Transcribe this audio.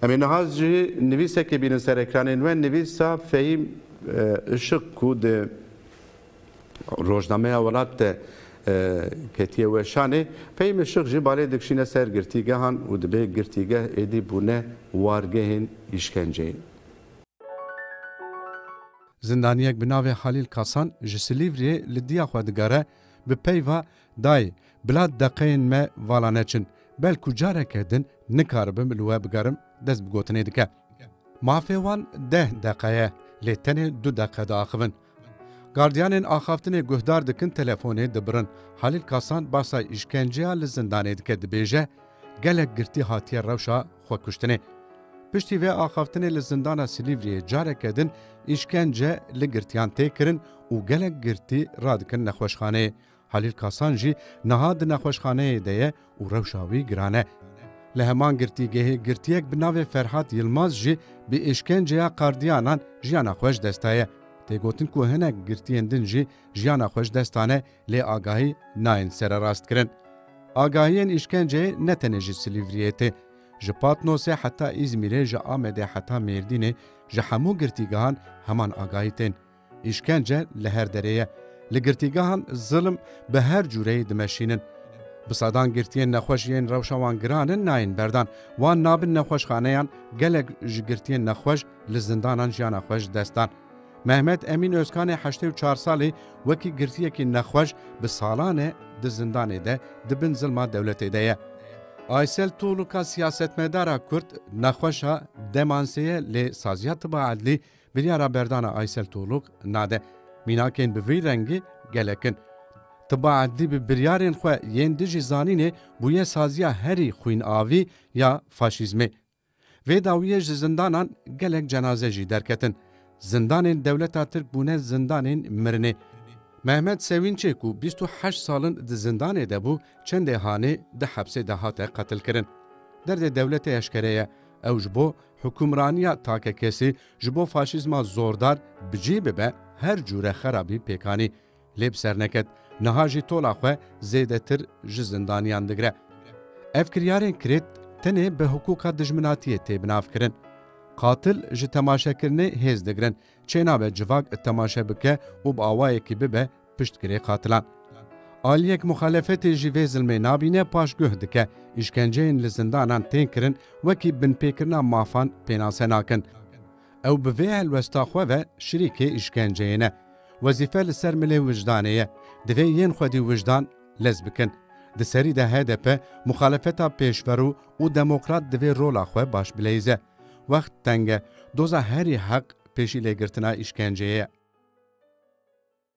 Em ê niha jî nivîsekê bînin ser ekranên we, nivîsa Fehîm Işık ku di Rojnameya Welat de ketiye weşanê. Fehîm Işık jî balê dikişîne ser girtîgehan û dibe girtîgeh êdî bûne wargehên îşkenceyê. Zindaniyek bi navê Halîl Kasan ji Silîvriyê li diya xwe digere bi peyva Dayê, bila deqeyên me vala neçin, belkû careke din nikaribim li we bigerim dest bi gotinê dike. Mafê wan deh deqe ye, lê tenê du deqe diaxivin. Gardiyanên axaftinê guhdar dikin telefonê dibirin. Halîl Kasan basa îşkenceya li zindanê dike dibêje, Gelek girtî hatiye rewşa xwekuştinê. Piştî vê axaftinê li zindana Silîvriyê careke din îşkence li girtiyan tê kirin û gelek girtî radikin nexweşxaneyê. Halîl Kasan jî niha di nexweşxaneyê de ye û rewşa wî giran e. Li heman girtîgehê girtiyek bi navê Ferhat Yilmaz jî bi îşkenceya qardiyanan jiyana xwe ji dest daye. Tê gotin ku hinek girtiyên din jî jiyana xwe ji dest dane lê agahî nayên sererast kirin. Agahiyên îşkenceyê ne tenê ji Silîvriyê tê. Ji Patnosê heta Îzmîrê ji Amedê heta Mêrdînê ji hemû girtîgehan heman agahî tên. Îşkence li her derê ye. Li girtîgehan zilm bi her cûreyê dimeşînin. Bi sedan girtiyên nexweş yên rewşa wan giran in nayên berdan. Wan nabin nexweşxaneyan, gelek ji girtiyên nexweş li zindanan jiyana xwe ji dest dan. Mehmet Emîn Ozkanê heştê û çar salî wekî girtiyekî nexweş bi salan e di zindanê de di bin zilma dewletê de ye. Aysel Tolûka siyasetmedara Kurd nexweş a demansê ye lê saziya tiba edlî Biryara berdana Aysel Toluk nade. Mînakên bi vî rengî gelek in. Tiba erdî bi biryarên xwe yên dijî zanînê bûye saziya herî xwînavî ya faşîzmê. Vê dawiyê ji zindanan gelek cenaze jî derketin. Zindanên dewleta Tirk bûne zindanên mirinê. Mehmet Sewînçê ku bîst û heşt sal in di zindanê de bû, çendê hanê di hepsê de hate qetilkirin. Derdê dewletê eşkere ye. Ew ji bo Hukûmraniya takekesî ji bo faşîzma zordar bi cî bibe her cûre xerabî pêk anî. Lê bi ser neket niha jî tola xwe zêdetir ji zindaniyan digire. Ev kiryarên kirêt tenê bi hiqûqa dijminatiyê tê binavkirin. Qatil ji temaşekirinê hêz digirin, çênabe civak temaşe bike û bi awayekî bibe Piştgirê qatilan. Aliyek muxalefetê jî vê zilmê nabîne paş guh dike, Îşkenceyên li zindanan tên kirin wekî binpêkirina mafan pênase nakin. Ew bi vê helwesta xwe ve şirîkê îşkenceyê ne. Wezîfe li ser milê wijdanê ye. Divê yên xwedî wijdan lez bikin. Di serî de hdp, muxalefeta pêşverû û demokrat divê rola xwe baş bileyze. Wext teng e. Doza herî heq pêşîlêgirtina îşkenceyê ye.